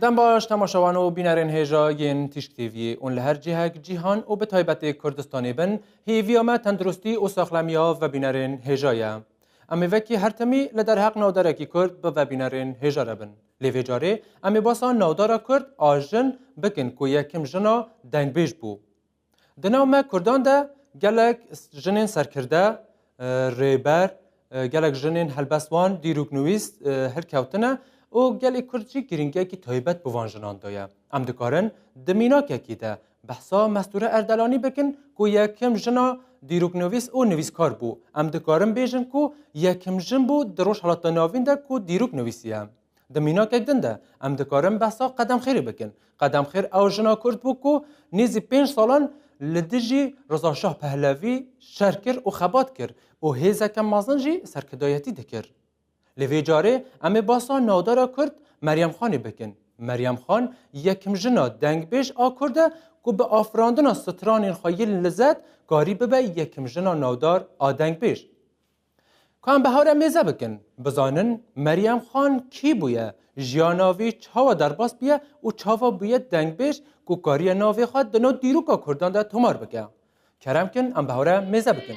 Dem baş temaşewan û bînerên hêja yên Tîşk TV'yê ûn li her cihek cîhan û bi taybetê Kurdistanê bin, hêviya me tenduristî û saxlemiya vebînerên hêja ye. Em ê vekî her timî li derheq navdarekî Kurd bi vebînerên hêja re bin. Lê vê carê em ê basa navdara Kurd a jin bikin ku yekim jina dengbêj bû. Di nav me Kurdan de gelek jinên serkirde, rêber, gelek jinên helbestwan, dîrok nivîst hilkewtine û gelê Kurd jî girîngiyekî taybet bi van jinan daye. Em dikarin di mînakekî de behsa Mestûre Erdelanî bikin ku yekim jina dîroknivîs û nivîskar bû. Em dikarin bêjin ku yekim jin bû di Rojhilata Navîn de ku dîrok nivîsiye. Di mînakek din de em dikarin behsa Qedemxêrê bikin. Qedemxêr ew jina Kurd bû ku nêzî pênc salan li dijî Rizaşah Pehlevî şer kir û xebat kir û hêzeke mezin jî serkidayetî dikir. Lê vê carê em ê behsa navdara Kurd Meryem Xanê bikin. Meryem Xan yekim jina dengbêj a Kurd e ku bi afirandina stranên xwe yên lizet karî bibe yekim jina navdar a dengbêj. Ku em behawre mêze bikin, bizanin Meryem Xan kî bûye, jiyana wî çawa derbas bûye û çawa bûye dengbêj ku kariye navê xwe di nav dîroka Kurdan de tomar bike. Kerem kin em behawre mêze bikin.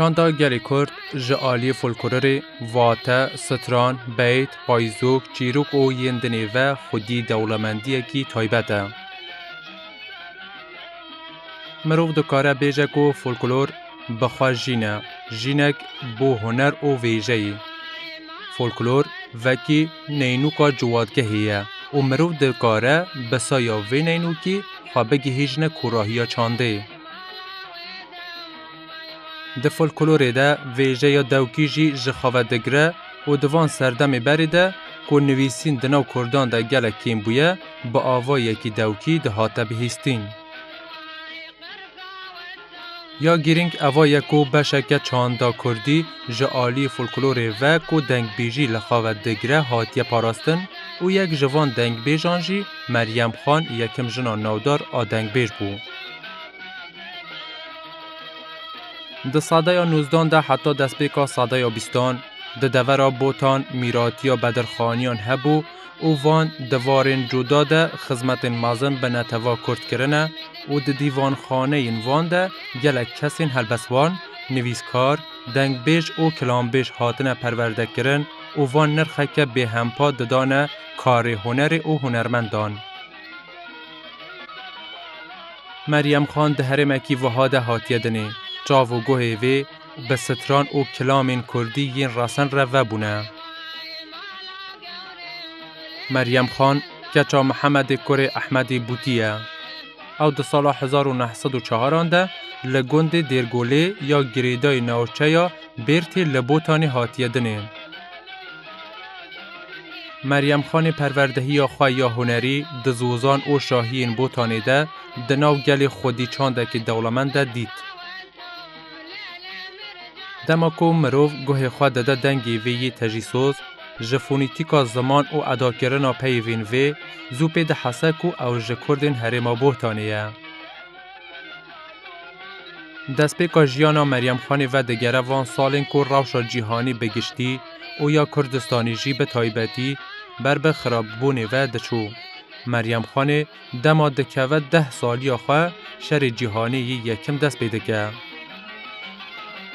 Çanda gelê Kurd ji aliyê folklorê, vate, stran, beyt, payizok, çîrok û yên dinê ve xwedî dewlemendiyekî taybet e. Mirov dikare bêje ku folklor bi xwe jîn e, jînek bo huner û vêjeyê. Folklor vekî neynûka ciwadgehê ye û mirov dikare bi saya vê neynûkî xwe bigihîjne kûrahiya çandê. Di folklorê de vêjeya dewkî jî ji xwe ve digire û di van serdemê berê de ku nivîsîn di nav kurdan de gelek kêm bûye, bi avayekî dewkî dihate bihîstîn. Ya girîng eva ye ku beşeke çanda kurdî ji aliyê folklorê ve ku dengbêjî li xwe ve digire hatiye parastin û yek ji van dengbêjan jî Meryem Xan yekim jina navdar a dengbêj bû. Di sadeya nûzdan de heta destpêka sadeya bîstan di devera Botan mîratiya bedirxaniyan hebû û van di varên cuda de xizmetên mezin bi netew'a kurd kirine û di dîvanxaneyên van de gelek kesên helbestvan, nivîskar, dengbêj û kilanbêj hatine perwerdekirin û van nirxeke bêhempa didane karê hunerê û hunermendan. Meryem Xan di herêmekî wiha de hatiye dinê, çav û guhê vê, bi stran û kilamên kurdî yên rasen re vebûne. Meryem Xan keça Mihemedê kurê Ehmedê Bûtî ye. Ew di sala hezar û neh sed û çaran de li gundê Dêrgolê ya girêdayî navçeya Bêrtê li Botanê hatiye dinê. Meryem Xanê perwerdehiya xwe ya hunerî di zozan û şahiyên Botanê de di nav gelê xwedî çandekî dewlemend de dît. Dema ku mirov guhê xwe dide dengê vê yê tejîsoz, ji fonîtîka ziman û edakirina peyivên vê, zû pê dihese ku ew ji kurdên herêma Bohtanê ye. Destpêka jiyana Meryem Xanê ve digere van salên ku rewşa cîhanî bi giştî û ya Kurdistanê jî bi taybetî ber bi xirabibûnê ve diçû. Meryem Xanê Dema dikeve deh saliya xwe Şerê Cîhanê yê Yekim dest pê dike.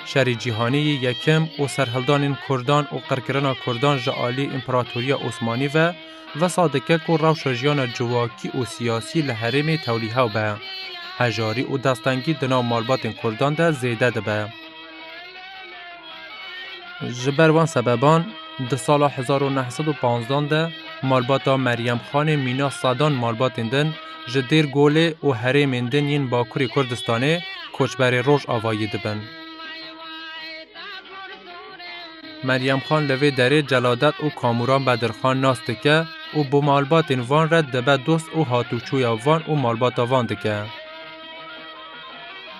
Şerê Cîhanê yê Yekim û serhildanên kurdan û qirkirina kurdan ji aliyê Împeratoriya Osmanî ve wisa dike ku rewşa jiyana civakî û siyasî li herêmê tewlîhew be. Hejarî û destengî di nav malbatên kurdan de zêde dibe. Ji ber van sebeban di sala hezar û neh sed û panzdan de malbata Meryem Xanê mîna sedan malbatên din ji Dêr Golê û herêmên din yên Bakurê Kurdistanê koçberê Rojavayî dibin. Meryem Xan li vê derê Celadet û Kamuran Bedirxan nas dike û bi malbatên van re dibe dost û hatûçûya van û malbata van dike.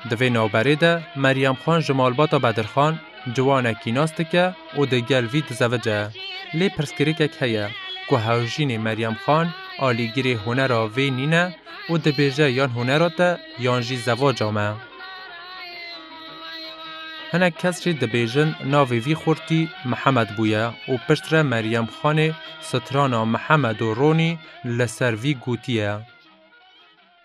Di vê navberê de Meryem Xan ji malbata Bedir Xan ciwanekî nas dike û di gel vî dizevice. Lê pirsgirêkek heye ku hewjînê Meryem Xan alîgirê hunera vê nîne û dibêje yan hunera te yan jî zevaca me. Hinek kes jî dibêjin navê vî xurtî Mihemed bûye û piştre Meryem Xanê strana Mihemed û Ronî li ser vî gotiye.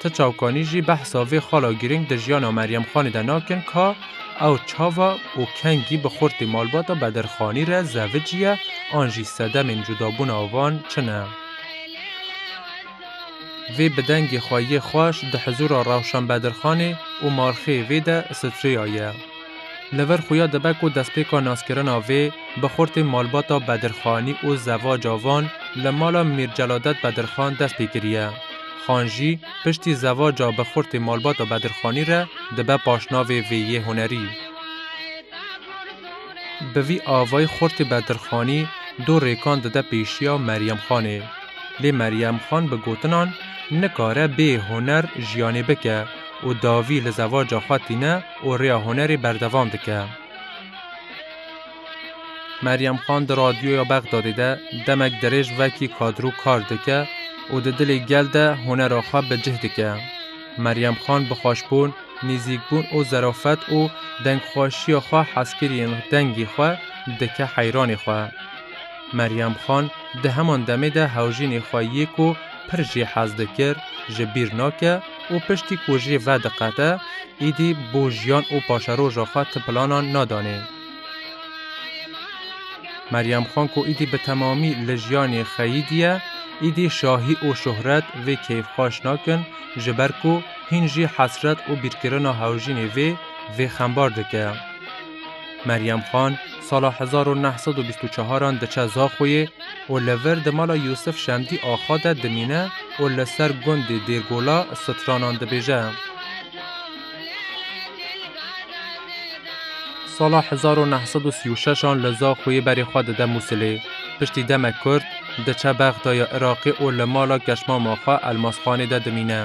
Ti çavkanî jî behsa vê xala girîng di jiyana Meryem Xanê de nakin ka ew çava û kengî bi xurtê malbata Bedir Xanî re zevicî ye an jî sedemên cudabûna wan çi ne. Vê bi dengê xwe yê xweş di hizûra Rewşen Bedirxanê û Marxê vê de Strea ye. Li vir xuya dibe ku destpêka naskirina vê bi xurtên malbata Bedirxanî û zevaca van li mala Mîr Celadet Bedirxan dest pê kiriye. Xan jî piştî zevaca bi xurtê malbata Bedirxanî re dibe paşnavê vê yê hunerî. Bi vî avayî xurtê Bedirxanî du rêkan dide pêşiya Meryemxanê. Lê Meryem Xan bi gotinan nikare bê huner jiyanê bike û dawî li zewaca xwe tîne û rêya hunerê berdewam dike. Meryem Xan di radyoya Bexdadê de demek dirêj vekî kadro kar dike û di dilê gel de hunera xwe bi cih dike. Meryem Xan bi xweşbûn, nêzîkbûn û zerafet û dengxweşiya xwe hezkiriyên dengê xwe dike heyranê xwe. Meryem Xan di heman demê de hewjînê xwe yê ku pir jê hez dikir ji bîr nake û piştî ku jê vediqete êdî bo jiyan û paşeroja xwe ti planan nadanê. Meryem Xan ku êdî bi temamî li jiyanê xeyî diye, êdî şahî û şohret vê keyfxweş nakin ji ber ku hîn jî hesret û bîrkirina hewjînê vê vê xembar dike. Meryem Xan sala hezar û neh sed û bîst û çaran diçe Zaxoyê û li vir di mala Yûsif Şemdî Axa de dimîne û li ser gundê Dêrgola stranan dibêje. Sala hezar û neh sed û sî û şeşan li Zaxoyê berê xwe dide Mûsilê. Piştî demek kurt diçe Bexdaya Iraqê û li mala keşmama xwe Elmasxanê de dimîne.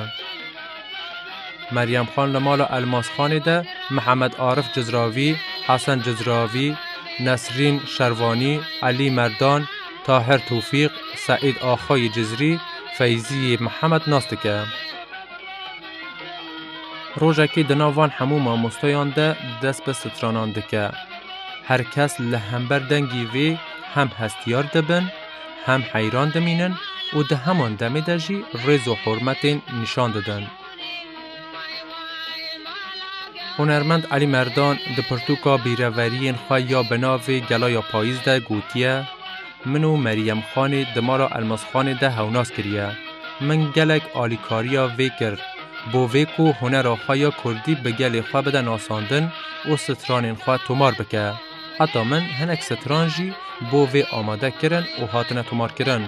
Meryem Xan li mala Elmasxanê de Mihemed Arif Cizravî, Hesen Cizravî, Nesrîn Şervanî, Elî Merdan, Tahir Tofîq, Seîd Axa yê Cizrî, Feyzî yê Mihemed nas dike. Rojekê di nav van hemû mamostayan de dest bi stranan dike. Her kes li hember dengê vê hem hestiyar dibin, hem heyran dimînin û di heman demê de jî rêz û hurmetên nîşan didin. Hunermend Elî Merdan di pirtûka bîreveriyên xwe ya bi navê Gela ya Payîz de gotiye, Min û Merîyem Xanê di mala Elmasxanê de hewnas kiriye. Min gelek alîkariya vê kir bo vê ku hunera xwe ya kurdî bi gelê xwe bide nasandin û stranên xwe tomar bike. Heta min hinek stran jî bo vê amade kirin û hatine tomarkirin.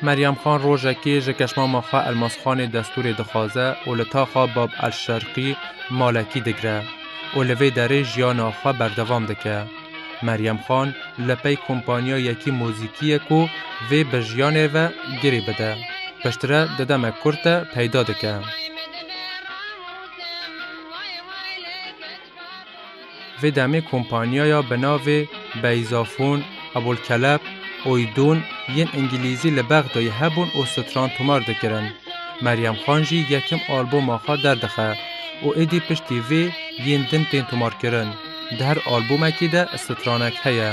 Meryem Xan rojekê ji keşmama xwe Elmasxanê destûrê dixwaze û li taxa Bab El Şerqî malekî digire û li vê derê jiyana xwe berdevam dike. Meryem Xan li pey kompanya yekî muzîkiyê ku vê bi jiyanê ve girê bide, piştre di demek kurt de peyda dike. Vê demê kompanyaya bi navê Beyzafon, Abolkelep, Oydon yên îngîlîzî li Bexdoyê hebûn û stran tomar dikirin. Meryem Xan jî yekem alboma xwe derdixe û êdî piştî vê yên din tên tomarkirin. Di her albomekê de stranek heye.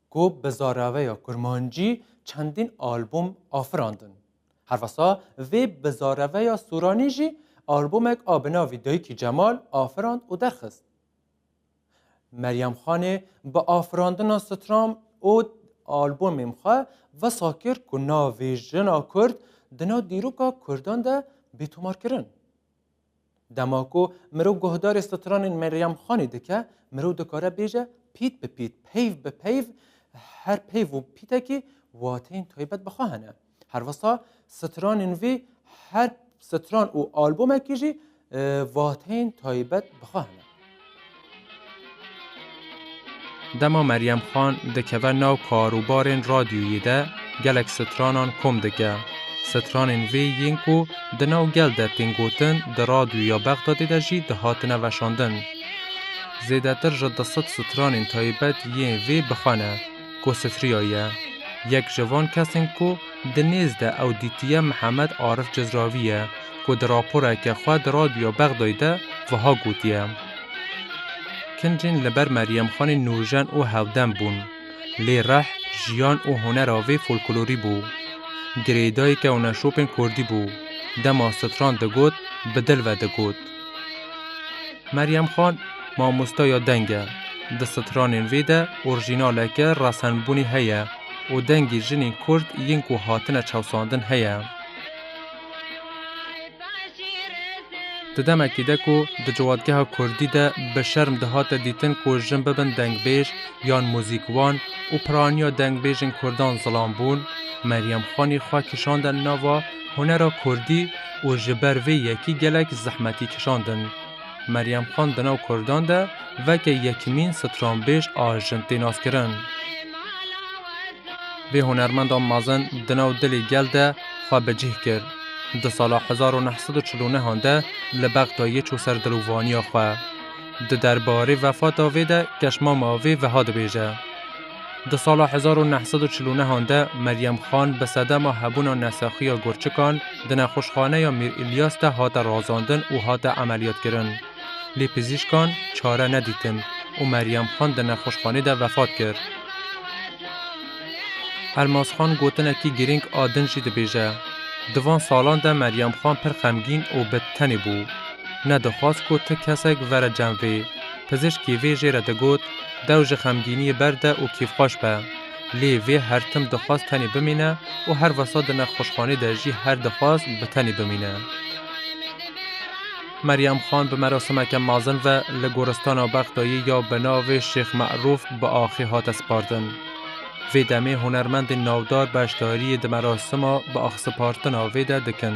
ku bi zaraveya kurmancî çendîn albûm afirandin. Herwesa vê bi zareveya sûranî jî albûmek a bi navî Dayikî Cemal afirand û derxist. Meryem Xanê bi afirandina Stram ûd albûmêm xwe wisa kir ku navê jina kurd di nav dîroka kurdan de bê tomarkirin. Dema ku mirov guhdarê stranên Meryem Xanê dike, mirov dikare bêje pît bi pît, peyv bi peyv, her peyv û pîtekî wateyên taybet bi xwe hene. Herwisa stranên vî her stran û albomekî jî wateyên taybet bi xwe hene. Dema Meryem Xan dikeve nav kar û barên radyoyê de gelek stranan kom dike. Stranên vê yên ku di nav gel de tên gotin di radyoya Bexdadê de jî dihatine veşandin. Zêdetir ji du sed stranên taybet yên vê bi xwe ne. ku Sifriya ye. Yek ji van kesên ku di nêz de ew dîtiye Mihemed Arif Cizravî ye ku di raporeke xwe di Radyoya Bexdayê de wiha gotiye, Kincên li ber Meryemxanê nûjen û hevdem bûn. Lê rih, jiyan û hunera vê folklorî bû. Girêdayî kewneşopên kurdî bû. Dema stran digot, bi dil ve digot. Meryem Xan mamosteya deng e. Di stranên vê de orjînaleke resenbûnê heye û dengê jinên Kurd yên ku hatine çewsandin heye. Di demekê de ku di ciwadgeha Kurdî de bi şerm dihate dîtin ku jin bibin dengbêj yan muzîkvan û piraniya dengbêjên Kurdan zilam bûn, Meryem Xanê xwe kişande nava Hunera Kurdî û ji ber vê yekî gelek zehmetî kişandin. Meryem Xan di nav Kurdan de veke yekimîn stranbêj a jin tê naskirin. Vê hunermenda mezin di nav dilê gel de xwe bi cih kir. Di sala hezar û neh sed û çil û neh an de li Bexdayê çû ser dil û vaniya xwe. Di derbarê vefata vê de keşmama vê wiha dibêje. Di sala hezar û neh sed û çil û nehan de Meryem Xan bi sedema hebûna nesexî ya gurçikan di nexweşxaneya Mîr Îlyas de hate razandin û hate emeliyatkirin. Lê pizîşkan çare nedîtin û Meryem Xan di nexweşxanê de vefat kir. Elmas Xan gotinekî girîng a din jî dibêje, Di van salan de Meryem Xan pir xemgîn û bi tenê bû. Nedixwaz ku ti kesek vere cem vê. Pizîşkî vê jê re digot, Dew ji xemgîniyê berde û kêfxweş be. Lê vê her tim dixwest tenê bimîne û her wisa di nexweşxanê de jî her dixwest bi tenê bimîne. Meryem Xan bi merasimeke mezin ve li Goristana Bexdayê ya bi navê Şêx Merûf bi axê hate sipardin. Vê demê hunermendên navdar beşdariyê di merasima bi axsipartina vê de dikin.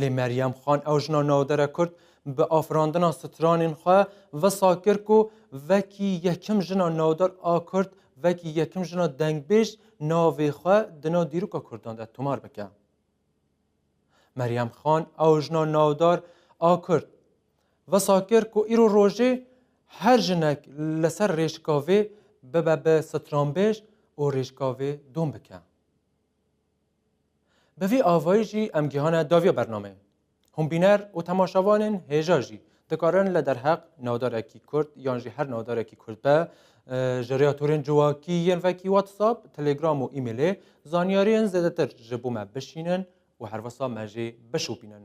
Lê Meryem Xan ew jina navdere Kurd bi afirandina stranên xwe wisa kir ku wekî yekim jina navdar a Kurd, wekî yekim jina dengbêj navê xwe di nav dîroka Kurdan de tomar bike. Meryem Xan ew jina navdar a Kurd wisa kir ku îro rojê her jinek li ser rêşikavê bibe bi stranbêj û rêşikavê dom bike. Bi vî avayî jî em gihane daviya bernameyê. Hûnbîner û temaşavanên hêja jî dikarin li derheq navdarekî kurd yan jî her navdarekî kurd be ji rêya torên civakî yên vekî WhatsApp, Telegram û emailê zanyariyên zêdetir ji bo me bişînin û herwisa me jê bişopînin.